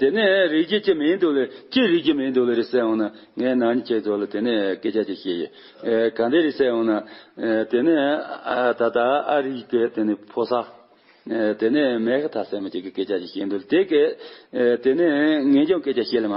དེ་ནས་རིགས་ཀྱི་ཁྱི་མིང་འདོགས་ལ་ཅི་རིགས་ཀྱི་མིང་འདོགས་ལ་རེ་གསལ་འོང་ན་ངས་ནང་ནས་ཁྱེད་འདོགས་ལ་དེ་ནས་སྐད་ཆ་དེ་བཤད་ཡོད། གང་འདི་རེ་གསལ་འོང་ན། དེ་ནས་ད་ལྟ་ཨ་རིག་པའི་དེ་ནས་ཕོ་སར། དེ་ནས་མེག་ཐ་སེ་མ་ཅིག་གི་སྐད་ཆ་ཞིག་བཤད་འདོད་ལ་དེ་སྐད། དེ་ནས་ངས་ཀྱང་སྐད་ཆ་བཤད་ལ་མ།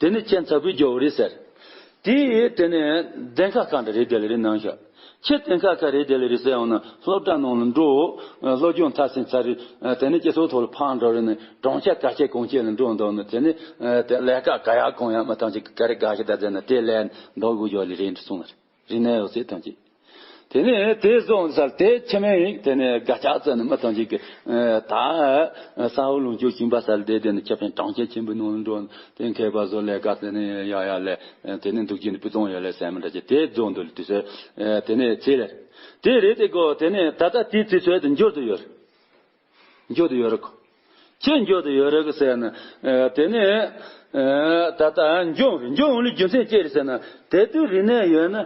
དེ་ནི་ཁྱེད་མཚར་བུའི་རྒྱལ་བོ་རེད་ཟེར། དེ་ཡིས་དེ་ནི་གདན་ཁ་གང་འདྲ་རེད་དེ་ལ་རེ་གནང་ཤག། ཁྱེད་གདན་ཁ་ག་རེ་དེ་ལ་རེ་ཟེར་ཡང་ན་སློབ་གྲྭ་ནང་ལ་འགྲོ། སློབ་སྦྱོང་མཐར་ཟིན་ཚར་རེ་དེ་ནི་སྐྱེ་སོགས་ཐོག་ལ་ཕར་འགྲོ་རེ་ནི་གྲོང་ཁྱེར་ག་ཁྱེད་གང་ཁྱེད་ལ་འགྲོ་འདོད་ན་དེ་ནི་ལས་ཀ་ག་ཡག་གང་ཡག་མ་ཐང་ཆེ་ག་རེ་ག་ཁྱེད་ད་ཟེར་ན་དེ་ལས་འདོགས་དགོས་ཡོད་ལེ་རེ་གསུངས་ལ་རེ། རིག་ནས་འོད་ཟེར་ཐོན་ཅིག། དེ་ནས་དེ་སོང་ཚར་དེ་ཕྱི་མའི་ཡིག་དེ་ནས་དགའ་སྐྱག་རྩེ་ནས་མི་ཐོན་ཅིག་གི། ད་ས་ཧོ་ལུང་ཆོས་ཁྱིམ་པ་སར་འདས་དེ་ནས་ཁྱབ་ཕན་གྲངས་བཅད་ཆེན་པོའི་ནང་ལ་འགྲོ། དེ་མཁས་པ་བཟོ་ལས་དགའ་རྩེ་ནས་ཡ་ཡ་ལས། དེ་ནས་འདུག་སྤྱིན་ནས་པི་ཙོང་ཡོད་ལས་ཟན་མི་འདྲ་ཆེ་དེ་རྫོགས་འདུག་ལས་དུས་ཚོད། དེ་ནས་ཚེས་ལས། དེ་རེད་དེ་གོ་དེ་ནས་ད་ལྟ་དེའི་དུས་ཚོད་དུ་འགྱུར་དུ་ཡོད། འགྱོད་དུ་ཡོད་རེད་ཁོ། ཁྱེད་འགྱོད་དུ་ཡོད་རེད་ཀི་ཟེར་ན། དེ་ནི། ད་ལྟ་འགྱོད་འོང་རེད་འགྱོད་འོང་ལུས་རྒྱུ་མཚན་ཅི་རེད་ཟེར་ན། དེ་དུས་རིག་གནས་ཡོད་ན།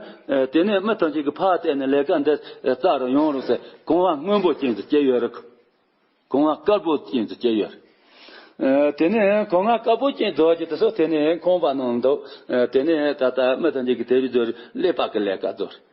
དེ་ནི་མི་ཐམས་ཅད་ཀྱི་ཕ་གཏད་ནས་ལས་ཀ་འདི་རྩ་རུ་ཡོང་རུང་ཟེར་གོང་བ་སྔོན་པོ་ཅན་དུ་སྐྱེས་ཡོད་རེད་ཁོ། གོང་བ་དཀར་པོ་ཅན་དུ་སྐྱེས་ཡོད་རེད། དེ་ནི་གོང་བ་དཀར་པོ་ཅན་རྡོ་རྗེ་དེ་སོགས་དེ་ནི་ཁོང་པ་ནང་འདུག་དེ་ནི་ད་ལྟ་མི་ཐམས་ཅད་ཀྱི་དེ་བཞིན་རྡོ་རྗེ་ཀླད་པ་ཀྱི་ལས་ཀ་རྡོ་རེད།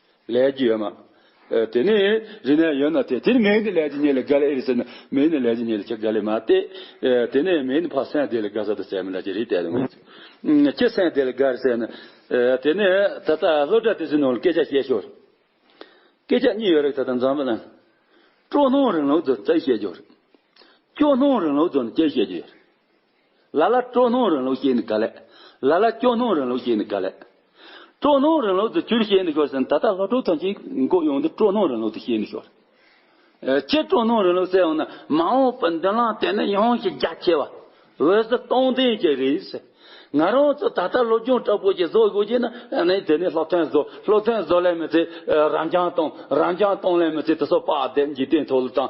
ལས་ཀྱི་ཡོད་མ། དེ་ནི་རི་ནས་ཡོད་ན་སྟེ་དེར་མེའི་ལས་ཀྱི་ཉེ་ལས་ག་ལས་ཨེ་ཟེར་ན་མེའི་ནི་ལས་ཀྱི་ཉེ་ལས་ཁྱེད་ག་ལས་མ་སྟེ། དེ་ནི་མེའི་ནི་ཕ་སེང་དེ་ལས་ག་ས་དུ་ཟེར་མི་ལ་ཀྱི་རི་དེ་ལས་མེ་ཆུ། ཁྱེད་སེང་དེ་ལས་ག་རི་ཟེར་ན། དེ་ནི་ད་ལྟ་སློབ་གྲྭ་དེ་ཚོའི་ནང་ལ་སྐད་ཆ་བཤད་ཞོར། སྐད་ཆ་གཉིས་ཡོད་རེད་ད་ལྟ་འཛམ་བུ་གླིང། སྤྲོ་སྣང་རིང་ལུགས་དུ་རྩལ་བཤད་རྒྱུ་རེད། སྐྱོ་སྣང་རིང་ལུགས་དུ་ནི་སྐད་བཤད་རྒྱུ་ཡོད་རེད། ལ་ལ་སྤྲོ་སྣང་རིང་ལུགས་ཞེས་ནི་ག་ལས། ལ་ལ་སྐྱོ་སྣང་རིང་ལུགས་ཞེས་ནི་ག་ལས། སྤྲོ་སྣང་རིང་ལུགས་དུ་གྱུར་ཞེས་ནི་ཤོར་ཟིན་ད་ལྟ་ལྷོ་བྲོ་ཐོན་ཅིག་མགོ་གཡོག་འདི་སྤྲོ་སྣང་རིང་ལུགས་དུ་ཤེས་ནི་ཤོར། སྤྱིར་སྤྲོ་སྣང་རིང་ལུགས་ཟེར་ཡང་ན་མ་འོངས་པའི་མདུན་ལམ་དེ་ནི་ཡོངས་ཀྱི་རྒྱ་ཆེ་བ། འོད་ཟེར་སྟོང་ལྡན་གྱི་རེད་ཟེར། ང་རང་ཚོ་ད་ལྟ་སློབ་སྦྱོང་དྲག་པོ་ཞིག་བཟོ་དགོས་ཀྱི་ན་ནི་དེ་ནི་སློབ་ཐོན་བཟོ་སློབ་ཐོན་བཟོ་ལས་མི་ཚེ་རང་རྐྱང་གཏོང་རང་རྐྱང་གཏོང་ལས་མི་ཚེ་དེ་སོགས་དཔའ་བདེ་འཇིག་རྟེན་མཐོ་སློབ་དང།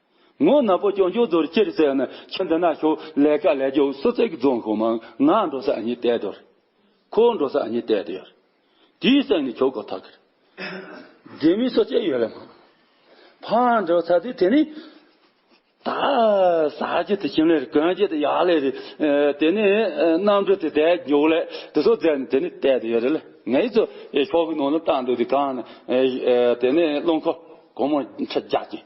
ངོ་ནག་པོ་ཀྱང་ཀྱོག་རྡོར་སྐྱེར་བཙལ་ནི་ཁྱི་འདི་ན་ཤོག་ལས་ཀ་ལས་རྒྱོག་སུ་བརྩེགས་རྫོང་ཤོག་མང་ང་འགྲོ་ས་གཉིས་བལྟས་དོར། ཁོ་འགྲོ་ས་གཉིས་བལྟས་དོར། དེའི་སེམས་ནི་ཁྱོག་ཁོག་ཐག་གིར། དེ་མིན་སོ་སྐྱེ་ཡོད་ལ་མང། ཕར་འགྲོ་ས་དེ་དེ་ནི། ད་ཟ་རྒྱུ་དེ་ཁྱིམ་ལས་རེད་གོན་རྒྱུ་དེ་ཡག་ལས་རེད། དེ་ནི་གནམ་གྲུ་དེ་དལ་རྒྱོག་ལས་དེ་སོགས་བཙལ་ནི་དེ་ནི་བལྟས་དོ་ཡོད་རེད་ལ་ངའི་ཚོ་ཤོག་གི་ནང་ལ་བཏང་འདུག་དེ་གང་ནི། དེ་ནི་རླུང་ཁོག་གང་མང་ཁྲི་བརྒྱ་ཅན།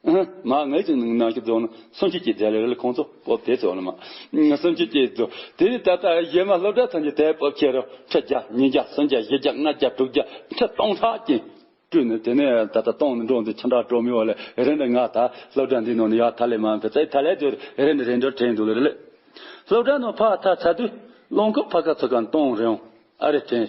མ་ངེས་ཀྱི་ནང་གི་རྫོགས་ན་སུམ་ཅུ་གྱི་རྫས་ལས་རིལ་ཁོང་ཚོ་སྤོབས་དེ་ཚོ་ལ་མ། སུམ་ཅུ་གྱི་རྫོགས། དེ་ནི་ད་ལྟ་གཞན་མ་སློབ་གྲྭ་ཐམས་ཅད་དལ་སྤོབས་ཁྱེར་རོ། ཁྲི་བརྒྱ་ཉིས་བརྒྱ་སུམ་བརྒྱ་བཞི་བརྒྱ་ལྔ་བརྒྱ་དྲུག་བརྒྱ་ཁྲི་སྟོང་ཕྲག་གིས་བཀྲུས་ནས་དེ་ནས་ད་ལྟ་སྟོང་ནས་འགྲོ་འདི་ཆ་འདྲ་གྲོ་མི་བ་ལས་རེ་འདི་ང་ད་སློབ་གྲྭ་འདིའི་ནང་ནས་ཡ་ད་ལས་མ་འཕེལ་ཚད་ད་ལས་དུས་རེ་འདི་རེ་འདྲར་དྲན་འདུག་ལེ་ལེ། སློབ་གྲྭ་ནང་ཕ་ད་ཚ་དུས་རླངས་འཁོར་ཕ་ག་ཚོ་ག་སྟོང་རེའང་ཨ་རེ་དྲན།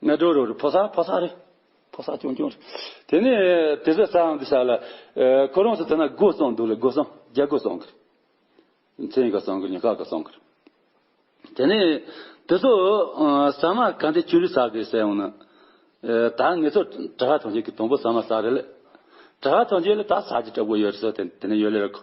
སྨད་དྲོ་རུ་རུ་ཕོ་སར་ཕོ་སར་རི། ཕོ་སར་ཀྱོང་ཀྱོང་རི། དེ་ནས་དེ་ཚོའི་རྩ་འམ་དུ་བཞག་ལ། ཁོ་རང་ཚོ་དེ་ན་སྒོ་བསང་འདུག་ལ་སྒོ་བསང་རྒྱ་སྒོ་བསང་གི། མཚན་ག་བསང་གི་ཉི་ཁ་ག་བསང་གི། དེ་ནས་དེ་ཚོ་ཟ་མ་ག་འདི་ཆུ་རི་ཟ་གི་ཟེར་ཡོང་ན། ད་ངེད་ཚོ་གྲྭ་ཧ་ཐོན་རྗེས་ཀྱི་དང་པོ་ཟ་མ་ཟ་རེད་ལ། གྲྭ་ཧ་ཐོན་རྗེས་ལ་ད་ཟ་རྒྱུ་གྲབ་གོ་ཡོད་རེད་ཟེར་དེ་ནས་ཡོད་ལེ་རེད་གོ།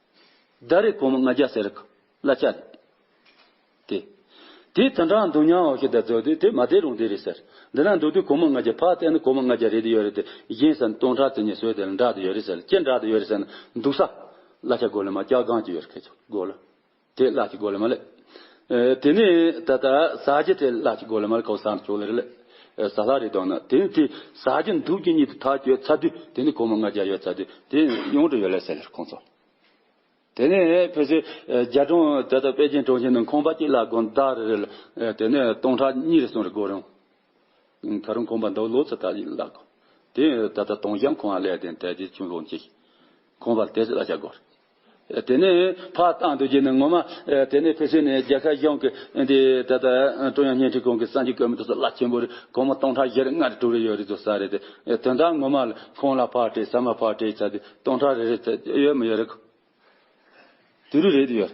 བདག་རེ་ཕོ་མོ་ལྔ་བརྒྱ་ཟེར། གླ་ལྕགས་རེད། དེ། དེས་ད་འདྲའང་འདུག་མྱང་བ་ཞིག་དང་རྫོགས་དུས་དེ་མ་བསྡད་རུང་དེ་རེད་ཟེར། འདི་ན་འདུག་དུས་གོ་མོ་ལྔ་བརྒྱ་ཕར་བལྟས་ན་གོ་མོ་ལྔ་བརྒྱ་རེད་དེ་ཡོད་རེད་དེ་གཞན་ཟེར་ན་སྟོང་ཕྲག་དེ་གཉིས་སོས་དེ་ལ་འདྲ་དེ་ཡོད་རེད་ཟེར་ལ་ཅི་འདྲ་དེ་ཡོད་རེད་ཟེར་ན་འདུག་ས། གླ་ལྕགས་སྒོ་ལེ་མ་སྐྱག་སྒང་ཅིག་ཡོད་རེད་ཁེ་ཆོག་སྒོ་ལ། དེས་གླག་ཅིག་སྒོ་ལེ་མ་ལས། དེ་ནས་ད་ལྟ་ཟ་རྒྱུ་དེ་ལ་ཅིག་གོ་ལ་མར་ཁའོ་སར་ན་ཅོ་ལེར་ལེ། ཟ་ལྷ་རེ་དོ་ན་དེ་ནི་དེ་ཟ་རྒྱུ་འདུག་རྒྱུ་གཉིས་དེ་ཐག་གཅོད་ཚར་དུས་དེ་ནི་གོ་མ་ང་རྒྱ་ཡོད་ཚར་དུས་དེ་ཡོང་དུ་ཡོད་ལེ་ཟེར་ལེར་ཁོང་ཚོ། དེ་ནས་ཕེ་སི་རྒྱལ་གྲོང་ད་ལྟ་པེ་ཅིན་གྲོང་ཁྱེར་ནང་ཁང་པ་གཅིག་ལ་དགོན་བདག་རེ་རེ་ལ་དེ་ནས་སྟོང་ཕྲག་གཉིས་རེ་གསུམ་རེ་དགོས་རུང། ད་རུང་ཁང་པ་འདོགས་ལོ་ཚོད་ད་ཡིན་ལ་དགོས། དེ་ད་ལྟ་སྟོང་བཞི་ཁོང་ལས་དེ་འདས་དུས་ཆུང་ལོ་གཅིག་ཁོང་པ་དེ་ལ་ཅག་དགོས་རེད། དེ་ནས་ཕར་བཏང་འདོད་ཀྱི་ནི་ངོ་མ། དེ་ནས་ཕེབས་བསུ་ནས་རྒྱལ་ཁ་གཞུང་གི། ད་ལྟ་ཀྲུང་དབྱང་བརྙན་འཕྲིན་ཁང་གི་གསར་འགྱུར་བཀོད་མི་ཐུབ་ས་བླ་ཆེན་པོ་རེད་དགོང་མོ་སྟོང་ཕྲག་བཞི་རེ་ལྔ་རེ་དྲུག་རེ་ཡོད་རེད་འདུག་ས་རེད་དེ། དོན་དག་ངོ་མ་ལ་ཁོང་ལ་ཕར་སྤྲད་ས་མ་ཕར་སྤྲད་ཆགས་དུས་སྟོང་ཕྲག་རེ་རེ་ཚད་ཡོད་མི་ཡོད་རེད། དུས་རེ་རེད་ཡོད།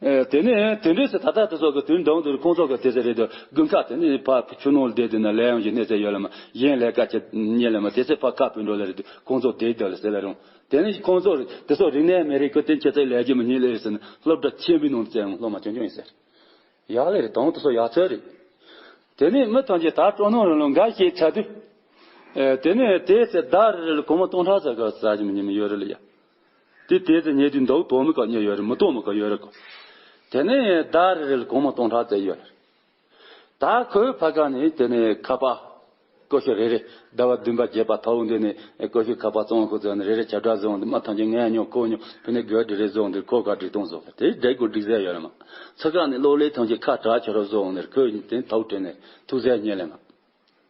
དེ་ནས་དུས་འགྲོས་སུ་ད་ལྟ་དེ་ཚོ་གི་དུས་འདང་དུས་ཁོང་ཚོ་གི་དེ་ཚོ་རེད་འདུག་དགུན་ཁ་དེ་ནས་ཕར་ཆུ་ནང་བསྡད་དུས་ན་ལས་ཡང་གི་གནས་ཚད་ཡོད་ལ་མ་གཞན་ལས་ཀ་ཅི་རྙེད་ལ་མ་དེ་ཚེ་ཕར་ཁ་བུད་འགྲོ་ལ་རེད་དུས་ཁོང་ཚོ་བསྡད་འདུག་ལ་ཟེར་ལ་རུང་དེ་ནི་ཁོང་ཚོར་དེ་སོགས་རིག་གནས་མི་རིགས་ཀྱི་དོན་ཆེད་དུ་ལས་རྒྱུ་མི་སྙིང་ལས་ཟིན་སློབ་གྲྭ་ཆེན་པོའི་ནང་དུ་བཙལ་ཡང་སློབ་མ་ཆུང་ཆུང་ཡིན་ཟེར། ཡག་ལེ་རེད་དང་དེ་སོགས་ཡག་ཚོད་རེད། དེ་ནས་མི་ཐམས་ཅད་ད་སྤྲོ་སྣང་རང་ལོ་འགའ་ཞིག་ཆགས་དུས། དེ་ནས་དེའི་ཚེ་ཟླ་རེ་རེ་ལ་ཁོ་མོ་སྟོང་ཕྲག་ཟ་ག་ཟ་བཞིན་པ་ཉི་མ་ཡོད་རེ་ལ་ཡ། དེ་དེའི་ཚེ་ཉལ་དུས་མདོག་དོག་མོ་ག་ཉོས་ཡོད་རེ་མི་དོག་མོ་ག་ཡོད་རེ་གོ། དེ་ནས་ཟླ་རེ་རེ་ལ་ཁོ་མོ་སྟོང་ཕྲག་བཙལ་ཡོད་རེ། ད་ཁོའི་བྷ་ག་ནི་དེ་ནི་ཁ་པ། ཀོ་ཤོ་རེ་རེ། ཟླ་བ་བདུན་པ་བརྒྱད་པ་ཐའུ་འདི་ནི་ཀོ་ཤོའི་ཁ་པ་བཙོང་ཁོ་ཚོས་ནི་རེ་རེ་བྱ་བྲག་བཟོ་འདི་མ་ཐམས་ཅད་ངས་ཉོ་ཁོས་ཉོ་ཕི་ནི་གོས་དྲི་རེ་བཟོ་འདིར་ཁོས་ག་དྲི་སྟོང་བཟོ་དེ་སྒྲས་གོས་དྲི་བཟས་ཡོད་ལེ་མ། ཚ་ཁ་ནི་གློག་ལས་ཐམས་ཅད་ཁ་བྲག་བྱ་རོག་བཟོ་འདིར་ཁོས་ནི་དེ་ཐའུ་དྲི་ནི་ཐུགས་བཟས་རྙེད་ལེ་མ།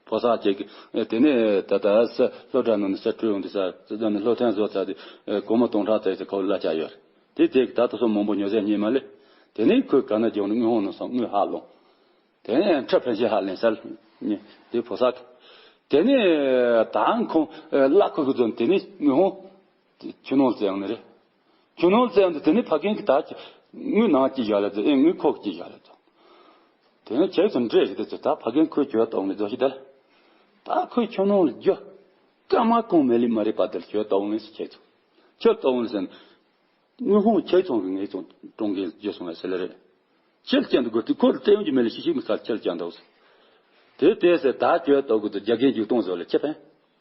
ཕོ་སར་བྱེད་ཀྱི། དེ་ནས་ད་ལྟ་སཱི་ལྷོ་བྲག་ནང་ནས་སཱི་ཁྲོད་ཡོང་དུས་སཱི་ལྷོ་བྲག་ནས་ལྷོ་ཐན་བཟོ་ཚར་དུས། སྒོར་མོ་སྟོང་ཕྲག་ཙེ་ཙེ་ཁོ་བོའི་བླ་ཆགས་ཡོད། དེའི་ཐད་ཀྱི་ད་ལྟ་སོགས་མང་པོ་ཉོ་སའི་རྙེད་མ་ལས། དེ་ནས་ཁོས་ག་ན་རྒྱོགས་ནས་དངུལ་ཧོང་ནང་སོང་དངུལ་ཧ་ལོངས། དེ་ནས་ཁྲི་ཕན་ཆད་ཧ་ལེན་སཱི་ལྷོ། དེ་ཕོ་སར། དེ་ནས་ད་ཁོང་བླ་ཁོ་ཁོས་བཟོ་ནས་དེ་ནས་དངུལ་ཧོང། དེ་ཁྱོད་ནོངས་ཟེར་ཡང་ནི་རེད། ཁྱོད་ནོངས་ཟེར་ཡང་དེ་ནི་ཕ་རྒན་གྱི་དག་གི། དངུལ་ནང་སྐྱིད་བཞག་ལེ་དོ་ཨེ་དངུལ་ཁོག་སྐྱིད་བཞག་ལེ་དོ། དེ་ནི་ཁྱེད་ཚོ་འདྲེས་ཞིག་དེ་ཚོ་དག་ཕ་རྒན་ཁོའི་གྱོད་གཏོགས་ནི་རྫོགས་ཤིག་དལ། དག་ཁོས་ཁྱོད་ནོངས་ལ་རྒྱོ། སྐར་མ་གོང་མའི་ལི་མ་རེད་པ་དལ་གྱོད་གཏོགས་ནི་སི་ཁྱེད་ཚོ། གྱོད་གཏོགས་ནི་སེ། དངུལ་ཧོང་ཁྱེད་ཚོ་གི་ངེད་ཚོ་གྲོང་གིས་རྒྱོ་སོང་ལ་སེ་ལེ་རེད། ཁྱེད་ཀྱང་དུ་གོ་དུས་ཁོ་ལ་སྤྲད་ཡོང་རྒྱུ་མེད་ལེ་ཤིག་ཤིག་མི་ཚར་ཁྱེད་ཀྱང་དུ། དེ་དེ་སེ་དག་གྱོད་གཏོགས་གི་དུ་རྒྱ་རྒན་རྒྱུག་སྟོང་བཟོ་ལེ་ཁྱེད་ཕན།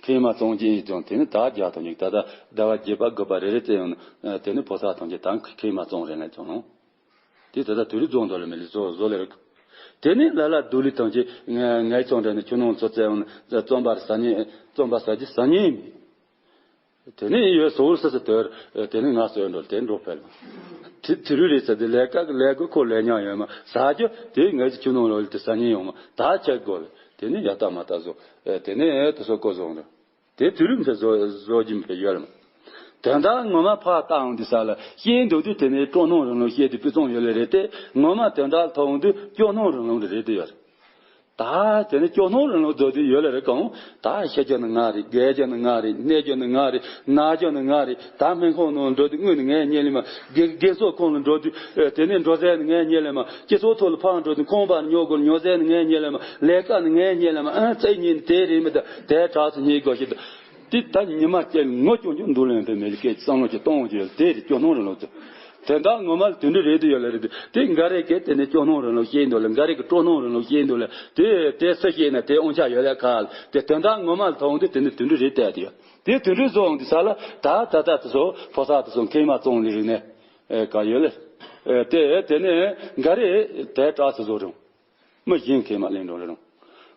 མཁལ་མ་གཙང་ཅན་ཡིན་ཀྱང་དེ་ནི་དག་རྒྱག་དང་ཡིག་ད་ལྟ་ཟླ་བ་བརྒྱད་པ་དགུ་པ་རེ་རེ་བཙལ་ཡོང་ན་དེ་ནི་ཕོ་སར་ཐང་ཆེ་དང་མཁལ་མ་གཙང་རེད་ངས་ཀྱང། དེ་ད་ལྟ་དུས་རིག་རྫོང་དང་ལི་མི་ལི་ཚོ་བཟོ་ལེ་རོགས། དེ་ནི་ལ་ལ་རྡོ་ལི་ཐང་ཆེ་ངས་ཀྱང་དྲན་ནས་ཁྱོད་རྣམས་ཚོ་བཙལ་ཡོང་ན་རྩོམ་པར་ཟ་ཉེན་རྩོམ་པ་ཟ་རྒྱུ་ཟ་ཉེན་མེད། དེ་ནི་ཡོད་སོ་ཨུར་སི་སི་དོལ། དེ་ནི་ང་སོའི་འགྲོ་དེ་འགྲོ་ཕལ་མོ། དེ་དེ་རུས་རེད་ཚ་དེ་ལས་ཀ་གི་ལས་གོས་ཁོ་ལས་ཉག་ཡོད་མ་ཟ་རྒྱུ་དེ་ངས་ཀྱི་ཆུ་ནང་ལོ་ལི་དེ་ཟ་ཉེན་ཡོང་མ་ད་ཁྱེད་དགོ་ལི་དེ་ནི་ཡ་ཏག་མ་ཏག་བཟོ། དེ་ནི་ཨེ་དེ་སོ་ཀོ་བཟོ་འགྲོ། དེ་དེ་རུས་མི་ཕལ་བཟོ་བཟོ་རྒྱུ་མི་ཕལ་ཡོད་མ། དེ་འདྲ་ངོ་མ་ཕག་ཏག་འོང་དུས་ས་ལ་ཤེས་འདུག་དུས་དེ་ནི་སྤྲོ་སྣང་རིང་ལུགས་ཤེས་དུས་སྤུས་གཙང་ཡོད་ལེ་རེད་དེ་ངོ་མ་དེ་འདྲ་ལྷག་འོང་དུས་སྐྱོ་སྣང་རིང་ལུགས་འདི་རེད་དུས་ཡོད་རེད། ད་དེ་ནི་སྐྱོ་སྣང་རང་ལུགས་རྡོ་རྗེ་ཡོད་ལ་རེ་གང། ད་ཤེས་སྐྱོ་ནི་ང་རེད་དགའི་སྐྱོ་ནི་ང་རེད་གནས་སྐྱོ་ནི་ང་རེད་ན་སྐྱོ་ནི་ང་རེད་ད་སྨན་ཁང་ནང་འགྲོ་དུས་དངུལ་ནི་ངའི་རྙེད་ལེ་མ་དགེ་དགེ་ཚོགས་ཁང་ལ་འགྲོ་དུས་དེ་ནས་འགྲོ་ཟས་ནི་ངའི་རྙེད་ལེ་མ་སྐྱིད་ཚོགས་ཐོག་ལ་ཕར་འགྲོ་དུས་ཁང་པར་ཉོ་དགོས་ལ་ཉོ་ཟས་ནི་ངའི་རྙེད་ལེ་མ་ལས་ཀ་ནི་ངའི་རྙེད་ལེ་མ་ཨང་རྩེ་གཉིས་ནི་དེ་རེད་མི་ད་དེའི་གྲགས་སུ་རྙེད་དགོས་ཤིག་ད། དེ་ད་ཉི་མ་སྐྱེ་བའི་ངོ་སྐྱོང་རྒྱུ་འདུག་ལོན་པའི་མི་རིགས་སྐད་ཀྱི་བསམ་བློ་ཅིག་གཏོང་རྒྱུ་ཡོད་དེ་རེད་སྐྱོ་སྣང་རིང་ལུགས་དེ་དེ་འདྲ་ངོ་མ་ལ་དོན་འདི་རེད་འདི་ཡོད་ལ་རེད་འདི་དེ་འགའ་རེ་སྐད་དེ་ནས་སྐྱོ་སྣང་རིང་ལུགས་བཤད་འདུག་ལ་འགའ་རེ་སྐད་སྤྲོ་སྣང་རིང་ལུགས་བཤད་འདུག་ལ་དེ་དེ་སུ་བཤད་ན་དེ་དབང་ཆ་ཡོད་ལ་ག་ལ་དེ་དེ་འདྲ་ངོ་མ་ལ་ཐོག་འདི་དེ་ནས་དོན་འདི་རེད་བལྟས་དེ་ཡོད་དེ་དོན་འདི་བཟོ་འོང་དེ་ས་ལ་ད་ད་ད་དེ་སོ་ཕོ་ས་དེ་སོ་མཁན་མ་ཙོང་ལི་རིགས་ནས་ག་ཡོད་ལ་དེ་དེ་ནས་འགའ་རེ་དེ་དྲག་ཆ་བཟོ་རིང། མི་གཞན་གྱིས་མ་གླེང་རུང་རུང།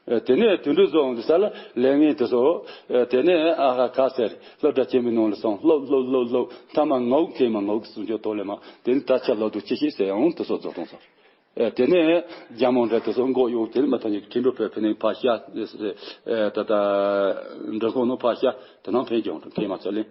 དེ་ནས་དུད་འགྲོའི་རྫོང་གི་ས་ལ་ལས་ངེས་དུ་སོང། དེ་ནས་ཨ་ཧ་ཁ་ཟེར་སློབ་གྲྭ་ཆེན་པོའི་ནང་ལ་སོང་སློབ་སློབ་སློབ་སློབ་མཐའ་མ་ངག་མཁས་མ་ངག་གི་གསུང་ཆོས་ཐོག་ལས་མ་དེ་ནས་ད་ཆ་ལོ་དུ་ཇི་ཞིག་ཟེར་ཡང་དུ་སོང་རྫོགས་སོང་ཟེར། དེ་ནས་རྒྱ་མོ་འདྲ་དུ་སོང་འགོག་གཡོག་དེ་ནས་མི་ཐ་སྙད་ཀྱི་ཁྲི་འགྲོ་བོད་ཕན་ནི་ཕ་ཤ། ད་ལྟ་འབྲོང་ཁོང་ནི་ཕ་ཤ་དེ་ནང་ཕན་ཀྱང་འབྲོང་ཁེ་མ་ཚོ་གླེང།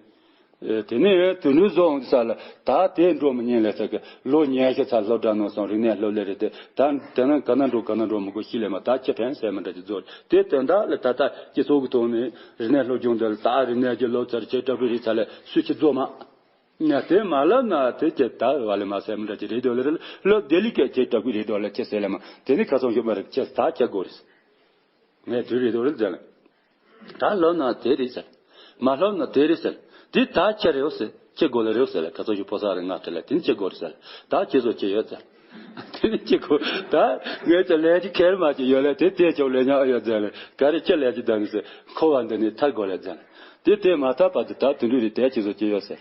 དེ་ནས་དུད་འགྲོའི་གཟུགས་འོང་གི་ས་ལ་དག་དེས་འགྲོ་མི་ཉན་ལས་ཚ་གི་ལོ་ཉེས་ཤ་ཚ་ལྷོ་བྲག་ནོར་བཟང་རིག་གནས་ལྷོ་ལས་རེད་དེ་ད་དེ་ན་ག་ན་འགྲོ་ག་ན་འགྲོ་མི་དགོས་གཤིས་ལས་མ་དག་ཁྱི་བྲན་ཟེར་མི་འདྲ་གི་རྫོགས་རེད་དེ་དོན་དག་ལ་ད་ལྟ་སྤྱི་ཚོགས་ཀྱི་ཐོག་ནས་རིག་གནས་ལྷོ་སྒྱུང་འདི་ལ་དག་རིག་གནས་ཀྱི་ལོ་ཙར་ཆེ་དྲག་པོའི་རིག་ཚ་ལས་སུས་ཁྱི་རྫོགས་མ་དེ་མ་ལབ་ན་དེ་ཁྱི་ད་བ་ལས་མ་ཟེར་མི་འདྲ་གི་རེད་དོ་ལེ་རེ་ལོ་བདེ་ལེགས་ཀྱི་ཁྱི་དྲག་པོའི་རེད་དོ་ལེ་ཁྱི་ཟེར་ལེ་མ་དེ་ནི་ཁ་ཚོང་ཞུ་མ་རེད་ཁྱི་ད་ཁྱི་དགོ་རེད་ཟེར་ངས་དུས་རེད་དོ་རེད་ཟེར་ལེ། ད་ལོབ་ན་དེ་རེད་ཟེར། མ་ལོབ་ན་དེ་རེད་ཟེར། དེ་ད་ཁྱེད་རེད་ཟེར། ཁྱེད་དགོ་ལ་རེད་ཟེར་ལ་ད་ཚོགས་ཞུགས་ཕོ་གསར་རེ་ང་ཁྱེད་ལ་དེ་ནི་ཁྱེད་དགོ་རེད་ཟེར། ད་ཁྱེད་ཚོ་ཅི་ཡོད་ཟེར། དེ་ནི་ཁྱེད་དགོ། ད་ངས་ཀྱང་ལས་ཀྱི་ཁལ་མ་ཅིག་ཡོད་ལ་དེ་དེད་ཆོག་ལས་ཉག་ཨེ་ཡོད་ཟེར། ག་རེ་ཁྱེད་ལས་ཀྱི་ཟླ་ནི་ཟེར། འཁོར་བ་འདི་ནི་ཐར་དགོ་ལས་ཟེར། དེ་དེད་མ་ཐག་པ་དུ་ད་དུད་འགྲོ་རེད་དེ་ཁྱེད་ཚོ་ཅི་ཡོད་ཟེར།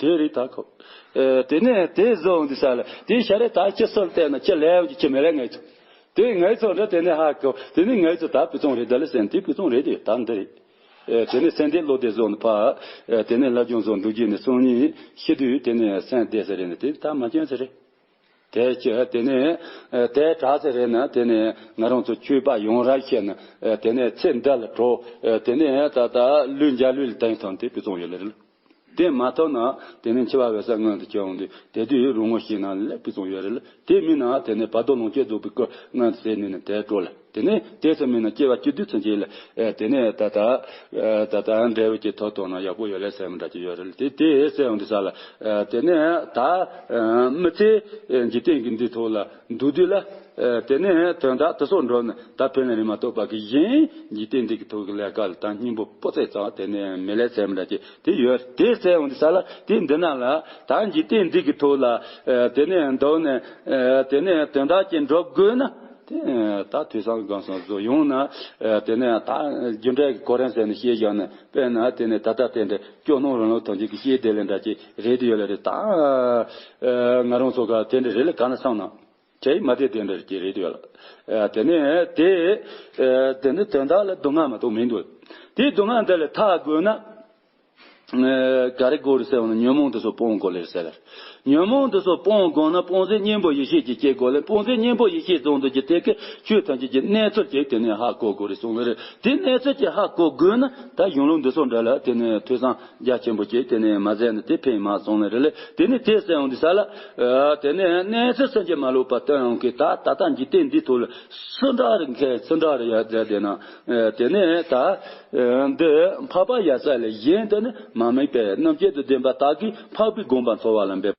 དེའི་རིགས་དག་གོ། དེ་ནས་དེས་གཟུགས་འདི་བསལ། དེའི་ཤ་རེ་དག་ཅི་སུལ་བལྟས་ན་ཅི་ལེའུ་ཅི་ཅི་མི་ལེ་ངེས་ཚོགས། དེའི་ངེས་ཚོགས་འདི་དེ་ནས་ཧ་གོ། དེ་ནས་ངེས་ཚོགས་དག་བུ་ཆུང་རེ་དེ་ལ་སེན་དེའི་བུ་ཆུང་རེ་དེ་དག་འདི་རེ། དེ་ནས་སེན་དེའི་བློ་དེ་གཟུགས་འདི་འཕགས། དེ་ནས་ལྷ་ཆུང་གཟུགས་འདི་བརྒྱུད་ནས་སོང་ཉིད་ཤི་དུས་དེ་ནས་སེན་དེ་ཟེར་རེ་ནས་དེ་དག་མ་སྐྱོན་ཟེར་རེ། དེ་ཅི་དེ་ནས་དེ་དྲག་ཟེར་རེ་ན་དེ་ནས་ང་རང་ཚོ་ཁྱོད་པར་ཡོང་རབས་བཤད་ན་དེ་ནས་ཚེ་འདི་ལ་བྲོ། དེ་ནས་ད་ལྟ་ལུས་འཇའ་ལུས་ལ་དེང་སང་དེའི་བུ་ཆུང་ཡོད་ལེ་རེ་ལ། དེ་མ་ཐོབ་ན་དེ་ནས་འཆི་བ་བས་ས་མངོན་དུ་སྐྱེ་འོང་དུས་དེ་དུས་རུང་ངོ་ཞེ་ན་ལེགས་པའི་གསུང་ཡོད་རེད་ལ་དེ་མིན་ན་དེ་ནས་བར་དོ་ལོངས་སྤྱོད་རྫོགས་པའི་སྐུ་མངོན་དུ་ཟད་ནུས་ན་དེ་སྤྲོ་ལ་དེ་ནས་དེ་སུ་མིན་ན་སྐྱེ་བ་བཅུ་དུས་ཚོད་འཇིག་ལ་དེ་ནས་ད་ལྟ་ད་ལྟ་འབྲས་བུ་ཀྱི་ཐོག་ཐོག་ན་ཡག་པོ་ཡོད་ལེ་ཟེར་མི་འདྲ་གཅིག་ཡོད་རེད་ལ་དེ་དེ་ཟད་འོང་དུས་ས་ལ་དེ་ནས་ད་མི་ཚེ་འཇིག་རྟེན་གྱི་འདིའི་ཐོག་ལ། འདུག་དུས་ལ། དེ་ནས་དོན་དག་དེ་སོགས་འགྲོ་ནས་ད་ཕན་ནས་རིན་མ་གཏོགས་པ་གིས་གཞན། འཇིག་རྟེན་འདི་གི་ཐུགས་ཀྱི་ལས་དཀའ་ལ་དང་སྙིང་པོ་པོ་ཚེ་གཙང་དེ་ནས་མི་ལས་ཚེ་མི་འདྲ་ཅེས་དེ་ཡོད་དེ་ཚེ་འོང་དུས་ས་ལ་དེ་འདི་ན་ལ། ད་འཇིག་རྟེན་འདི་གི་ཐུགས་ལ། དེ་ནས་འདོགས་ནས། དེ་ནས་དོན་དག་ཅིག་འགྲོ་དགོས་ན། ད་དུས་སང་གང་སང་གཟུགས་ཡོང་ན། དེ་ནས་ད་རྒྱུ་འབྲས་ཀྱི་གོ་རིམ་ཟེར་ནས་ཤེས་བཞག་ནས་དཔེར་ན་དེ་ནས་ད་ལྟ་དེ་འདྲ་སྐྱོ་སྣང་རང་ལུགས་ཐོན་བྱེད་ཀྱི་ཤེས་བདེ་ལས་འདྲ་ཅེས། རེད་ཡོད་ལ་རེད་ད། ང་རང་ཚོ་དེ་འདྲ་རེད་ལ་ག་ན་སང་ན། དེ་མ་དེ་དེ་འདྲ་རེད་ཀྱི་རེད་ཡོད་ལ། དེ་ནས་དེ། དེ་ནི་དོན་དག་ལ་སྡུག་བསྔལ་མ་གཏོགས་མིན་འདུག། དེའི་སྡུག་བསྔལ་འདི་ལ་ཐག་དགོས་ན། ག་རེ་དགོས་རེད་ཟེར་བ་ན་ཉོན་མོངས་འདི་ཚོ་སྤོང་དགོས་ལེར་ཟེར། ཉོན་མོངས་འདི་ཚོ་སྤོང་དགོས་ན་སྤོང་ཟའི་གཉེན་པོ་ཡེ་ཤེས་ཀྱི་སྐྱེ་དགོས་ལེ་སྤོང་ཟའི་གཉེན་པོ་ཡེ་ཤེས་བཟུང་འདོད་ཀྱི་དེ་གའི་ཆོས་ཐམས་ཅད་ཀྱི་གནས་ཚོད་ཅིག་དེ་ནས་ཧ་གོ་དགོས་རེད་གསུངས་ལེར་དེ་གནས་ཚོད་ཅིག་ཧ་གོ་དགོས་ན་ད་གཞུང་ལུགས་འདི་ཚོ་འདྲ་ལ་དེ་ནས་ཐོས་བསམ། རྒྱ་ཆེན་པོ་བྱས་དེ་ནས་མ་ཟད་ནི་དེ་ཕན་མ་སོང་ན་རེ་ལས་དེ་ནི་དེ་སྲིད་ཡང་འདི་ས་ལ། དེ་ནས་གནས་སུ་སེམས་ཅན་མ་ལུས་པ་དོན་ཡོང་གིས་ད་ད་ལྟ་འཇིག་རྟེན་འདིའི་ཐུགས་ལ་སུ་འདྲ་རེ་མཁས་སུ་འདྲ་རེ་ཡར་མཛད་དེ་ན། དེ་ནས་ད་འདི་འཕགས་པ་ཡ་ས་ལས་གཞན་དུ་ནི་མ་དམིགས་པས་རྣམ་བཅད་དུ་བདེན་པ་དག་གིས་འཕགས་པའི་དགོངས་པ་འཚོ་བ་ལ་འབད།